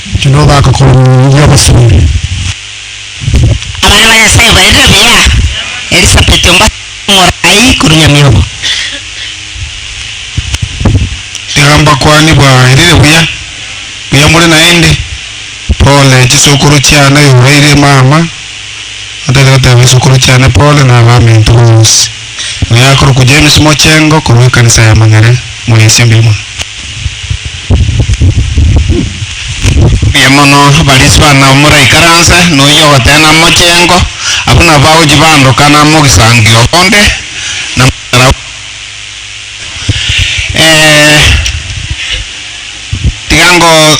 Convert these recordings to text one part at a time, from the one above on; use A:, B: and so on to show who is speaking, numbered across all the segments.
A: Inki nogaka korwa inwe abasore?
B: Abana ba Nyasae obarerire buya. Elisabeti ombaso omoraai korwa nyamiobo.
A: Iga mbakwane bwaerire buya, buya more naende. Pole chisokoro chiane oyo oraire mama, atoete goteba isokoro chiane pole na abaminto bonsi. Oyo akorokwa James Mochengo korwa ekanisa ya Mang'ere mwesie mbuya mono. Mbuya mono abarisi bana omura ikaranse noyio ogotena Mochengo abwo nabo bagochia baandoka na mogisangio bonde na mochara bonde. Ee tiga ngo.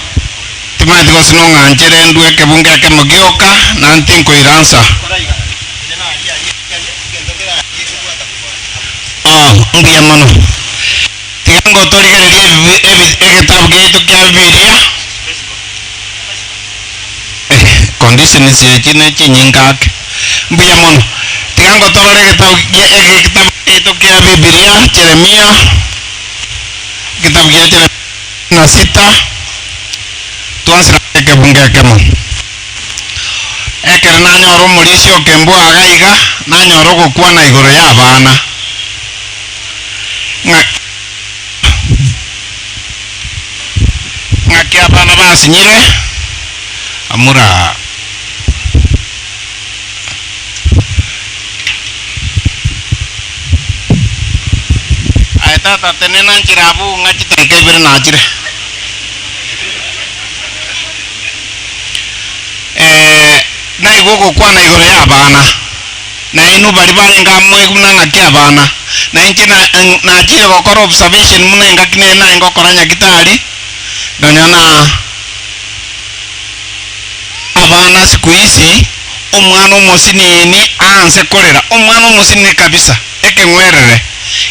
A: Timanyeti gose nong'anchere ndue ekebunga ekemo gioka, na ntinkoiransa. Oo, mbuya mono. Tiga ngotorigererie ebibi, ebi, egetabu giaito kia Bibilia. Eh, conditions echi ne chinyinge ake. Mbuya mono. Tiga ngotorore egetabu gia, egetabu giaito kia Bibilia, Jeremia, egetabu gia Jeremia. na sita twonsi nase ekebungo ekemo. Ekero nanyora omorisia o kembua iga iga, nanyora ogokwana igoro y'abana, ng'a ng'aki abana basinyire amura aa. Aye tata tenena nchera abwo ng'a chidakika ibere nachire. Eh, naigwa ogokwana igoro y'abana, na inwe baria barenge amo moigwe buna engaki y'abana, na inche na- en- nachire gokora observation buna engaki nere naye ngokora nyagitari, nonya na. Abana sikuisi omwana omosiniini aanse korera, omwana omosinini kabisa, ekeng'werere,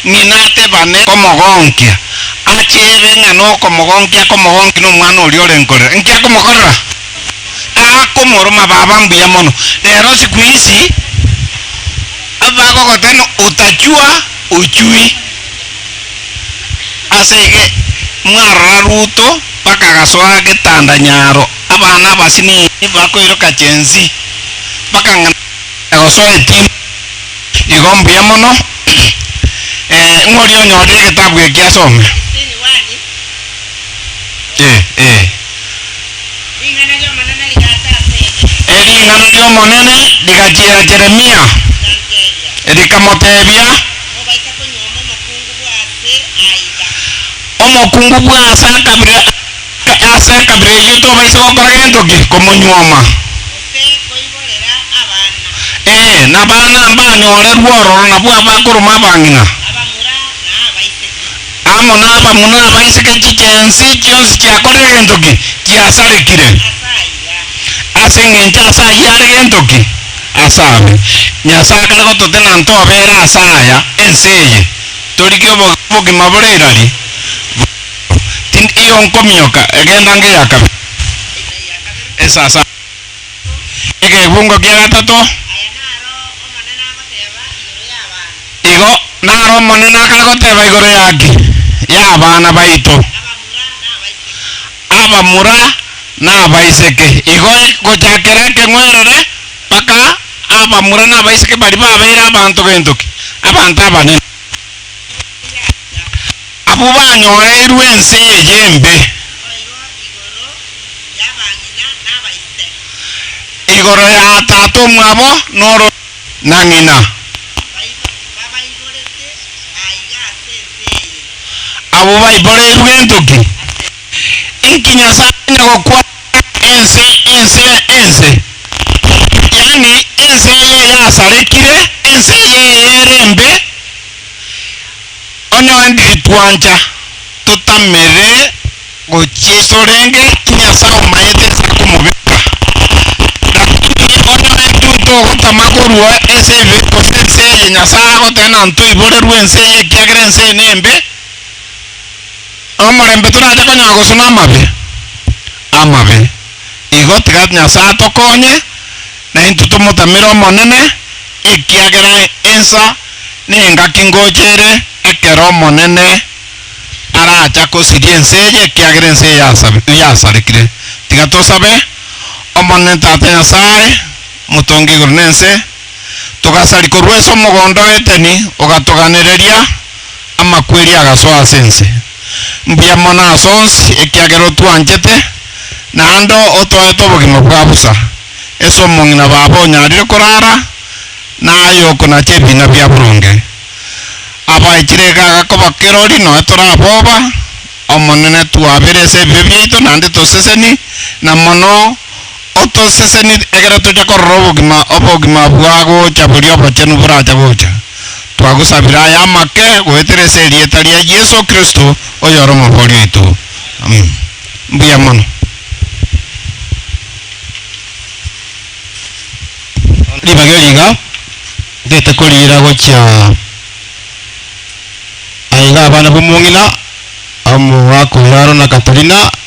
A: ng'ina atebane komogonkia, acheebe ng'a nokomogonkia akomogonki nomwana oria orenkorera. Inki akomokorera? Akomoroma baba mbuya mono. Rero sikuisi bagogotena utachua ochui. Ase iga mwarora Ruto bakagasoa getanda nyaro. Abana abasinini bakoiroka chensi, bakang'ana na gosoa etimba. Igo mbuya mono. Ee, ng'oria onyore egetabu eke asome. Ering'ana ri'Omonene rigachiera Yeremia, rikamoteebia, Omokungu bw'aase akabire aa. Ase ekabira eyio tobaisa gokora gento ki? Komonyuoma? Ee, na abana mbanyore rwororo nabwo abakoroma abang'ina, amo nabamura abaiseke chicheensi chionsi chiakorire gento ki? Chiasarekire. Ase engencho ase ayio are gento ki? Ase abe. Nyasae akare gototenena ntobere ase aya ense eye, torigie obogima bore irari, Tindi iyo nkominyoka egenda nge ya kabere, esasa egevungo kia gatato. Igo naro Omonene akare goteba igoro yake, y'abana baito, abamura na abaiseke, igo gochakera ekeng'werere mpaka abamura na abaiseke baria babeire abanto gentoki, abanto abanene. Abwo banyoreirwe ense eye embe. Igoro ya tata omwabo n'ororo na ng'ina. Abwo baiboreirwe entoki. Inki Nyasae onye gokwana? ense ense ya ense, yaani ense eye yasarekire, ense eye ere embe, onye oendire twancha totamere gochia isorenge Nyasae omanyete ense akomobeka, lakini onye ointwe ntogotama korua ense ebe gose ense eye Nyasae agoteba na ntoiborerwe ense eye ekiagera ense eye nembe. Omorembe torache konyora gosuna amabe amabe. Igo tiga Nyasae atokonye, naintwe tomotamere Omonene, ekiagera ensa nengaki ngocha ere ekero Omonene aracha kosiria ense eye, ekiagera ense eye yasarekire. Tiga tosabe Omonene Tata Nyasae, motongi igoro nense, togasari korwa ase omogondo o Edeni, ogatoganereria, amakweri agasoa ase ense. Mbuya mono ase onsi, ekiagera otwanchete, naende otoete obogima bwa bosa, ase omong'ina babo onyarire korara, na aye okonacha ebiina bia boronge. Abaechire iga agakoba kirori, noe tore aboba, Omonene, twaberese ebibe biaito, naende toseseni, na mono, Otosesenirie ekero tocha korora obogima, obogima bwa gocha boria obochenu boracha gocha. Twagosabire aya amake goetera ase erieta ria Yeso Kristo, oyore Omobori oito. Amen. Mbuya mono. Ribaga eri iga ngete koriira gochia aye iga abana b'omong'ina, omogaaka oyio aro na Katerina,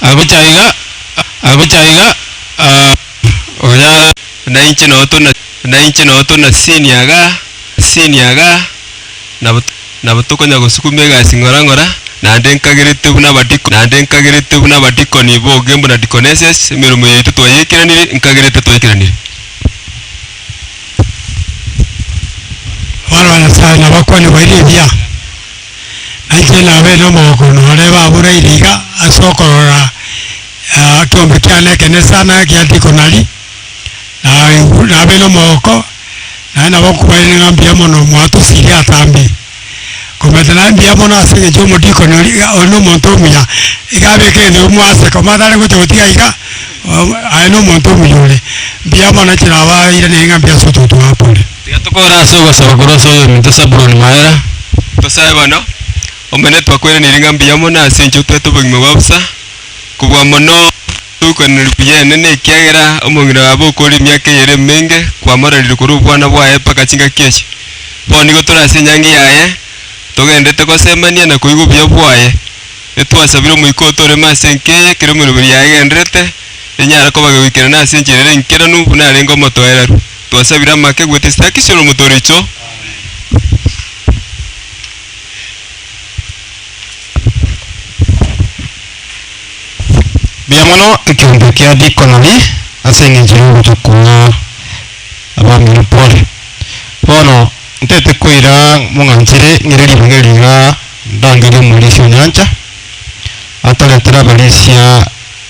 A: Agocha iga, agocha iga, ah, onyara, nainche noo tuna, nainche noo tuna sini iga, sini iga, nabo, nabo tokonya gosukuma egasi ng'ora ng'ora, naende nkageretwe buna abadiko, naende nkageretwe buna abadikoni boge mbuna deaconesses, emeremo yaito twayeikeranire, nkageretwe twayeikeranire. Abana
C: ba Nyasaye nabakwane baire ebiya. Nainche nabe nomogokunu ore baboreire iga ase okorora ekiombe kiane ekenesa na ekiandiko nari, na aigure nabe nomogoko, naye nabo okobairaneria ng'a mbuya mono mwatosirie atambe. Komenta naye mbuya mono ase eng'encho omodikoni oria iga ore nomonto omuya, iga abeke egento kebua ase koma tari gocha gotiga iga, aye nomonto omuya ore. Mbuya mono nainche nabairaneria ng'a mbuya ase otogotoa abwo mpore. Tiga tokore ase ogosaba
A: korwa ase oyominto Sabuloni Maera. Tosae bono. Omonene, twakweraneirie ng'a mbuya mono ase enchera otwete obogima bwa bosa, kobua mono togokweraneria buya Enene, ekiagera omong'ina oye abe okore emiaka eyere emenge kwamoraririe korwa obwana bwaye mpaka chingaki echi. Bono nigo tore ase enyangi yaye, togendererete gosemania na koigwa obuya bwaye. Etwasabire Omoika oo toreme ase enka eye ekero emeroberi yaye egendererete, enyare koba gegoikerana ase enchera ere enkeranu buna arenge omotoereru. Twasabire amake gwete esitaki cia olomoto riicho. Mbuya mono ekeombe kia diikononi ase engencho y'ogocha kwa abamino Pole. Bono ntaete koira mong'anchere ng'ire ribegerio iga ndangerie omorisia o nyancha atoretere abarisia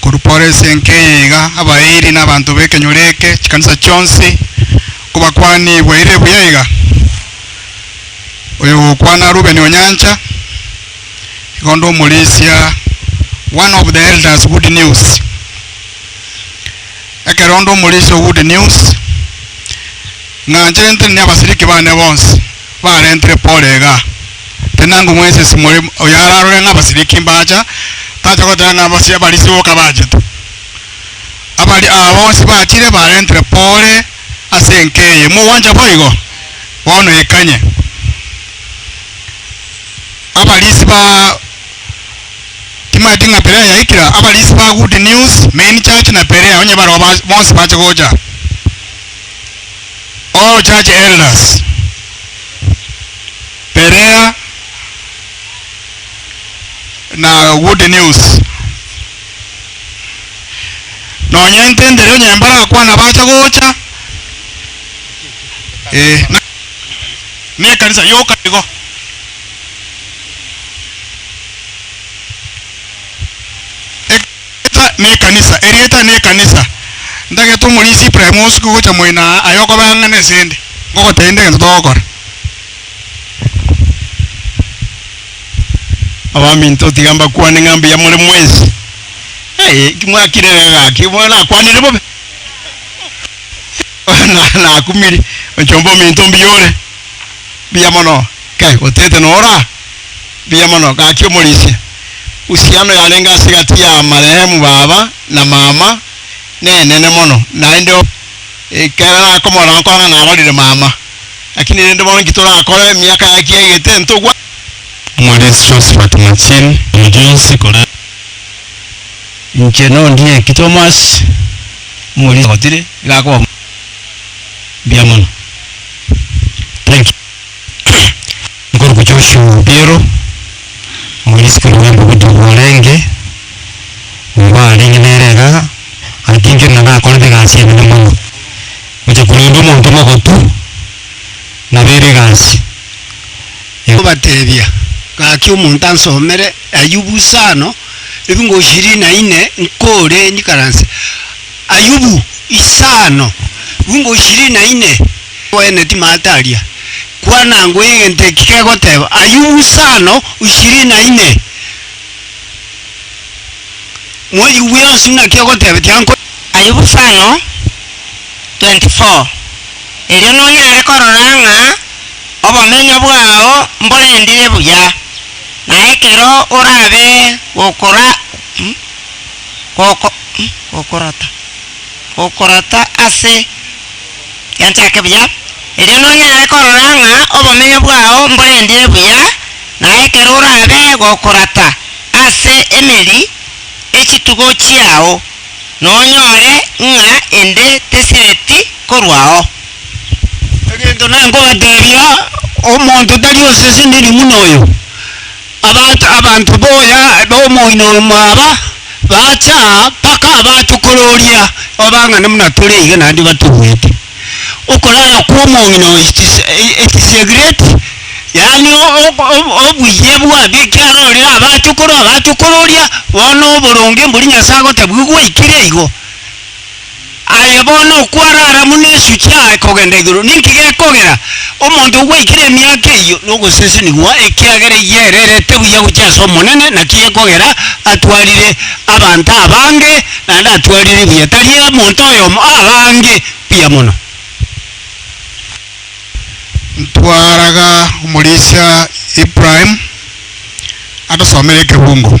A: Korwa pore esenke eye iga, abairi na abanto b'ekenyoro eke, chikanisa chionsi, nkobakwani bwaire buya iga, oyogokwana Rubeni Onyancha, iga onde omorisia, one of the elders good news. Ekero onde omorisia o good news, ng'a ncherentiri ne abasiriki bane bonsi. Barentire Paulo iga, tinango mwensinsi more oyararore ng'a abasiriki mbacha, tacha goteba ng'a abasio abarisia boka bachete. Abaria aba bonsi bachire barentire Paulo ase enka eye. Mogwancha boigo? Bono ikanye abarisi ba Timaeti ng'a Berea yaikire, abarisi ba Good News, Main Church, na Berea onye bareo bonsi bache gocha. All church elders Berea na Good News. Nonya intendere onye mbarakwana bacha gocha eh, na ne ekanisa yoka igo. Ek- Erieta n'ekanisa, Erieta n'ekanisa. Ntagete omorisia Ibrahim osuke gocha moino aa, aye okobaa ng'a nesende, ngogotebia ninde egento togokora. Abaminto tiga mbakwane ng'a mbuya more mwensi. Aye, ki mwakire iga gaki? Bono nakwanire bobe? Bono nakumiri, onchombe ominto mbuya ore? Mbuya mono. Kai, otete nora? Mbuya mono, gaki omorisia. Uhusiano yarenge ase gati ya marehemu baba na mama nenene mono, naende o, ekero nakomorora gokora ng'a narorire mama, lakini rende bono inki torakore emiaka yaye ki yaigete ntogwa. Omorisia Josephat Machil, omochunsi korende. Inche nondie ki Thomas, omorisia gotire iga akoba mbuya mono. Thank you. Nkorokwa Joshua Obiero, omorisikeri bw'embogoto bwarenge nigo arenge nere iga, atinchire na gakorete egasi enene mono, gocha korenda omonto omogotu nabeire egasi. Nkobatebia,
C: gaki omonto ansomere Ayubu isano ebingo ishirini na ine nkore nyikaranse. Ayubu isano ebingo ishirini na ine, abene timataria. Kwana ngwe egento eki kegoteeba, Ayubu sano ishirini na ine, Moyubu yonsi ng'a naki ogoteba tiankore. Ayubu sano 24
B: Erio nonyare korora ng'a obomenyo bwao mborendire buya, na ekero orabe gokorata ase. Genchake buya, erio nonyare korora ng'a obomenyo bwao mborendire buya, na ekero orabe gokorata ase emeri echitugo chiao, nonyore ng'a ende tesireti korwao.
C: Egento nakobateebia, omonto tari osesenirie buna oyo. Abanto abanto boya b'omoino omo aba bacha mpaka abatokororia, Abang'ana buna tore iga naende batobuete. Okorara kw'omoino ekisegreti, yaani obuya bw'ekiarorire abatokoro, abatokororia, bono oboronge mbori Nyasae agotabuigwa gwaikire igo. Aye bono okwarara buna esuchi yaye kogenda igoro, ninki gekogera omonto ogwaikire emiaka eyio nogosesenigwa? Ekiagera eyio ere erete buya gochia ase Omonene, naki gekogera atwarire abanto abange, naende atwarire buya, tari omonto oyomo, abange buya mono.
A: Ntwaraga omorisia Ibrahim atosomere ekebungo.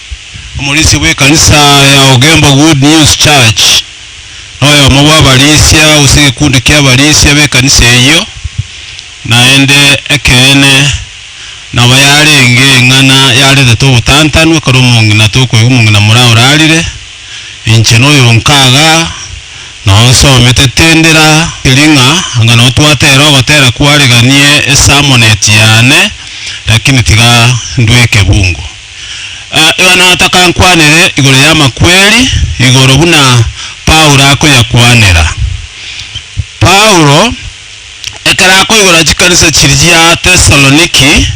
D: Omorisia bw'ekanisa ya Ogembo Good News Church noyomo bw'abarisia gose egekundi ki'abarisia b'ekanisa eyio, naende ekeene nabo yarenge eng'ana yaretete obotantanu ekero omong'ina tokoigwa omong'ina moraa orarire, inche noyonka iga nonsomete tindira tiri ng'a anga notwatera ogotera kwareganie esamoneti yane, lakini tiga ndue ekebungo. Yohana otakankwanire igoro y'amakweri igoro buna Paulo akoyakwanera. Paulo ekero akoigora chikanisa chiria chia Tesaloniki,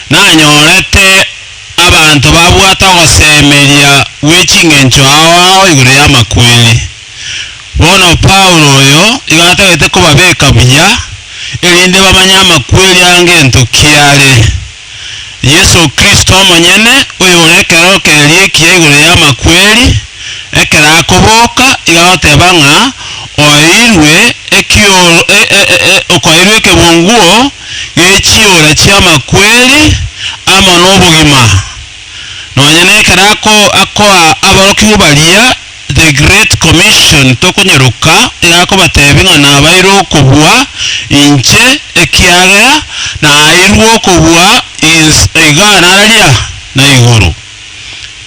D: nanyorete abanto babwate ogosemeria gwe ching'encho ao ao igoro y'amakweri. Bono Paulo oyo igo atagete kobabeka buya, erinde bamanye amakweri angento ki are. Yeso Kristo omonyene, oyore ekero keriekia igoro y'amakweri, ekero akoboka, iga goteba ng'a oeirwe okoeirwe ekebunguo gechiura chi'amakweri amo nobogima, nonya nekero akoa aborokigwa baria The Great Commission tokonyeroka erakobateebie ng'a nabaire okobua inche ekiagera naaeirwe okobua is iga nararia na igoro.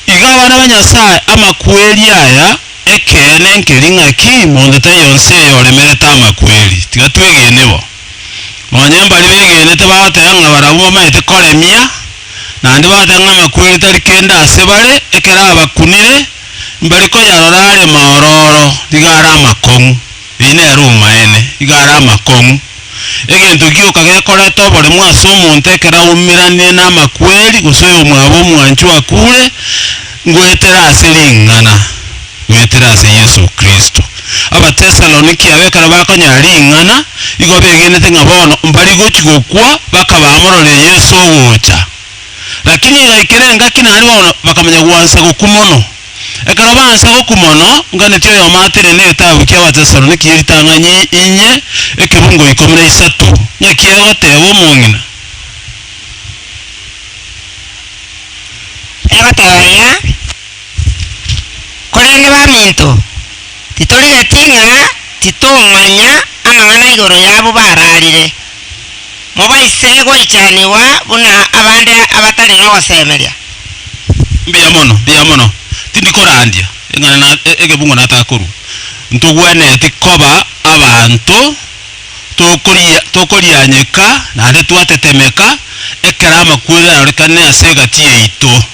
D: Iga abana ba Nyasae amakweri aya ekeene nkeri ng'a ki monto tari onsi eyoremerete amakweri. Tiga twegene bo. Nonye mbari begenete bagoteba ng'a barabwo bamaete koremia, naende bagoteba ng'a amakweri tari kende ase bare ekero abakunire, Mbare koyarora are mororo, nigo are amakong'u, eyio nere omaene, nigo are amakong'u. Egento gioka gekoreta oboremu ase omonto ekero aumeranirie namakweri, gose oyomwabo omwanchwa akure, ngoetera ase ring'ana, goetera ase Yeso Kristo. Abatesaloniki aba ekero bakonyora ring'ana, nigo begenete ng'a bono mbarigochi gokwa, bakaba bamororire Yeso ogocha. Lakini igaikera engaki naria bono bakamanya gwansa gokwa mono. Ekero bansa gokwa mono, nganeti oyomo atere n'egetabu ki'Abatesaloniki ye ritang'ani inye ekebungo ikomi na isato, ng'aki egoteba omong'ina.
B: Egoteba ng'a, Korende baminto, titorigeti ng'a titomanya amang'ana igoro y'abwo bararire, mobaise goichanigwa buna abande abatari nogosemeria. Mbuya
D: mono, mbuya mono. Tindi korandia eng'ana na egebungo natakorwa. Ntogwenereti koba abanto tokoria tokorianyeka naende twatetemeka ekero amakweri arorekane ase egati yaito.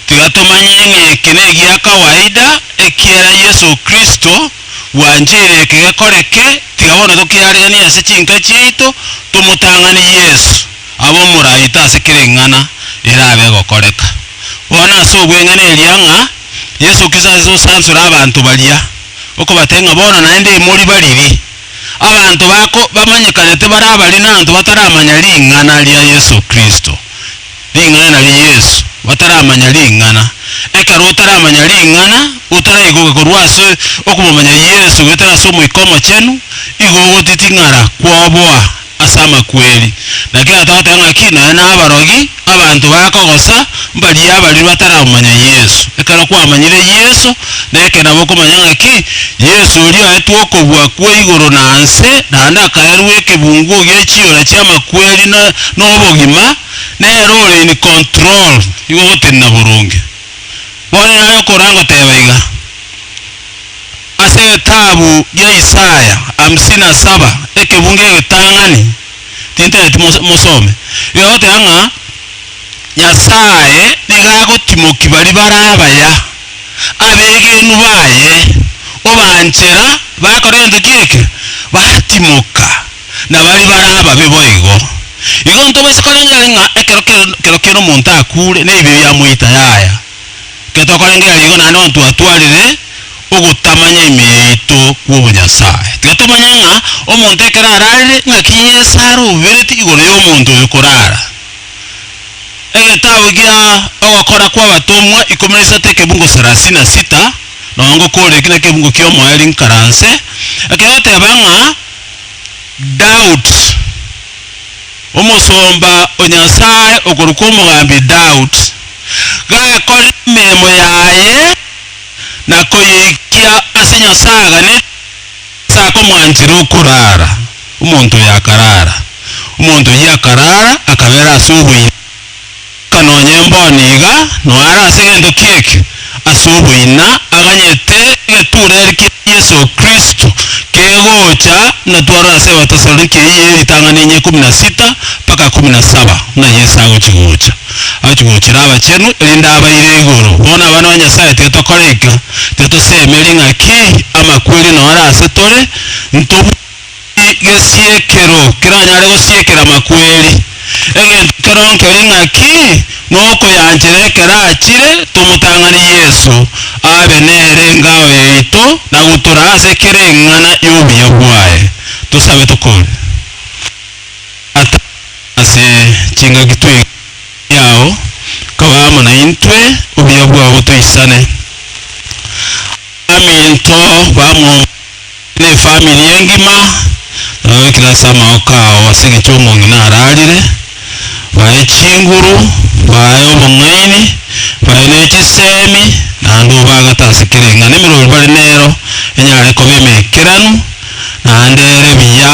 D: Tiga tomanye ng'a eke negia kawaida, ekiagera Yeso Kristo bwancheire eke gekoreke, tiga bono tokiareganie ase chinka chiaito, tomotang'ani Yeso abe omoraito ase kera eng'ana erabe egokoreka. Bono ase obweng'ene eria ng'a Yeso Kristo ase osansore abanto baria, okobatebia ng'a bono naende imori bariri, abanto bako bamanyekanete bare abaria na abanto bataramanya ring'ana ria Yeso Kristo. Ring'ana nario Yesu, bataramanya ring'ana. Ekero otaramanya ring'ana, otaraigoka korwa ase okomomanya Yesu goetera ase Omoika Omochenu, igo ogotiting'ara kwoboa ase amakweri. Na kera togoteba ng'aki nonye nabarogi, abanto bakogosa, mbaria abaria bataramomanya Yesu. Ekero kwamanyire Yesu, na ekero nabokomanya ng'aki Yesu oria oetwe okobua kwe igoro na nse, naende akaerwa ekebungo gie chiora chi'amakweri na nobogima, nere ore in control, nigo ogotenena boronge. Bono nare okoranga goteba iga, ase egetabu gia Isaya hamsini na saba, ekebungo egetang'ani, tintereti mose mosome, iga egoteba ng'a Nyasae nigo agotimoki baria bare abaya. abegenwa baye obaanchera bakora egento ki'ekio, batimoka, na baria bare ababe boigo. Igo ntobwesie korengera ng'a ekero kero ki'ira omonto akuure, nebibe bia moita yaya. Ekero tokorengera igo naende bono twatwarire ogotamanya ime yaito kw'obonyasae. Tiga tomanye ng'a omonto ekero ararire, ng'aki Yeso arobereti igoro y'omonto oyo korara. Egetabu gia Ogokora kw'Abatomwa ikomi na isato ekebungo sarasini na sita, nonya ngokoreki nekebungo ki'omoeri nkaranse, ekegoteba ng'a Daud, omosomba o Nyasae okorokwa omogambi Daud, gakorire emeremo yaye na koyeikia ase Nyasae aganete, Ase akomwanchera okoraara, omonto oyo akaraara. Omonto oyio akaraara, akabera ase oboibi, goika nonya emboni iga, noara ase gento ki'ekio, ase oboina, aganyete egetureri kia Yeso Kristo, kegocha, buna twarora ase Ebatesaloniki eyio ye ritang'ani enye ikomi na sita mpaka ikomi na saba, buna Yeso agochi gocha. Agochia gochera abachenu, erinde abaire igoro. Bono abana ba Nyasae tiga tokoraika, tiga tosemeria ng'a ki amakweri nore ase tore, ntobue ki gesiekero keranyare gosiekera amakweri. Egento keronge keri ng'a ki nokoyanchera ekero achire, tomotang'ani Yeso abe nere engao yaito na gotura ase kera eng'ana y'obuya bwaye. Tosabe tokore. Tata, ase chingaki twaigure amang'ana yao, kaba amo naintwe, obuya bwao toisane. Abaminto bamwomokire na efamiri engima baroikire ase amagoka ao ase eng'encho omong'ina ararire, baye chinguru, baye obong'aini, baye ne chisemi, naende obagate ase kera eng'ana emerori bare nero enyare koba emekeranu, naende ere buya.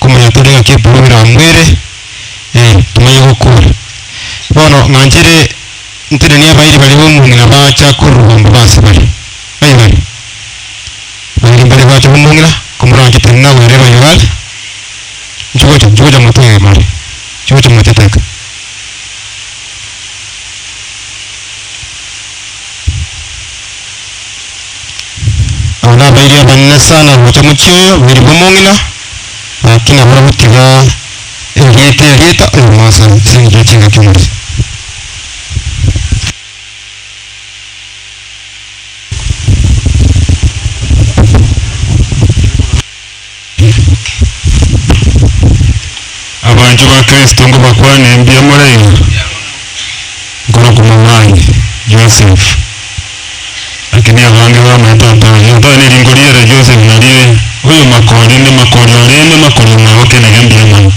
A: Komanya tore ng'aki ebibe biramwere, ee, tomanye gokora. Bono ng'anchire ntenenie abairi baria b'omong'ina baacha korwa obomba base bare. Aye bare? Abairi mbare baacha b'omong'ina, komoranche tari nagwere ebayo are, inche gocha, inche gocha motebe bare, inche gocha moteteka. Aba nabairi abanene sana gocha mochie oyo, bairi b'omong'ina, gaki nabo bagotiga erieta erieta oyomoaso ase engencho ya chingaki omochie. Ribuke. Abanchwa ba Kristo nkobakwane mbuya moraiyo, nkoro komomanye Joseph. Lakini abange bamanye tata oye, otari nerinko riere Joseph narie oyo makori ne makori orende makori omwabo kenege mbuya mono.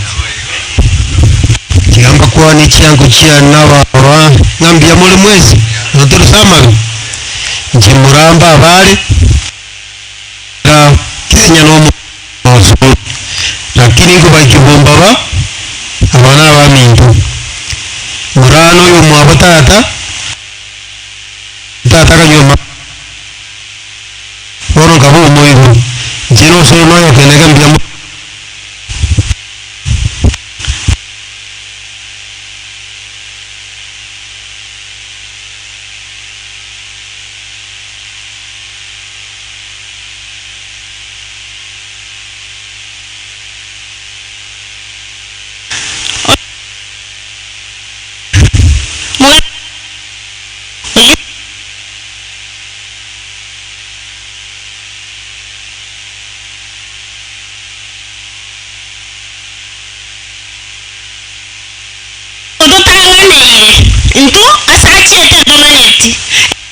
A: Tiga mbakwane chiango chia nabaroa ng'a mbuya more mwesi, notorise amabe, inche morambe abaare. na kenya nomo bonsi bonsi, lakini nkobakia bombaba, aba nabaminto. Morana oyomwabo tata, tata akanywa amaboko, bono nkaba omoiru, inche nosoe noyokeneka mbuya mono.
B: Ototang'aneire, intwe ase achiete ntomaneti, ekiagera.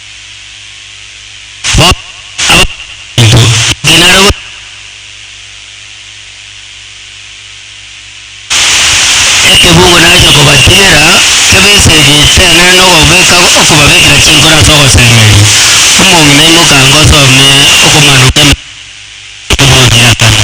A: ekebungo nacha kobatinera, kebaisegeirie chenene nogobeka okobabekera chinkoro ase ogosemeria. Omong'ina aimoka ango osome okomanwa kw'emeremo, obogie akana.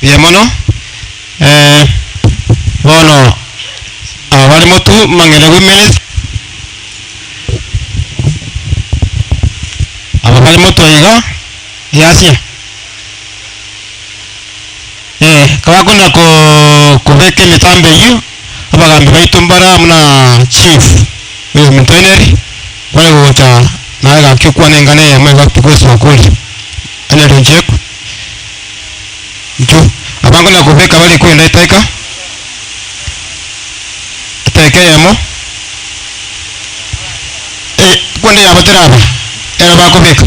A: Buya mono. Eh, bono abare motu mang'ende women aba bare motu iga easia eh kabakona ko kobeka emitambo eywo. abagaambi baito mbare amo na chief oyomoteneneri, bare gocha naye gaki okwana engano eye yamo egati bw'eso oko oria, onye rinchireku, inchuo. Abange na kobeka bare kwenda eteka, eteka eyemo, eye kwenda yabo teraba, ere bakobeka.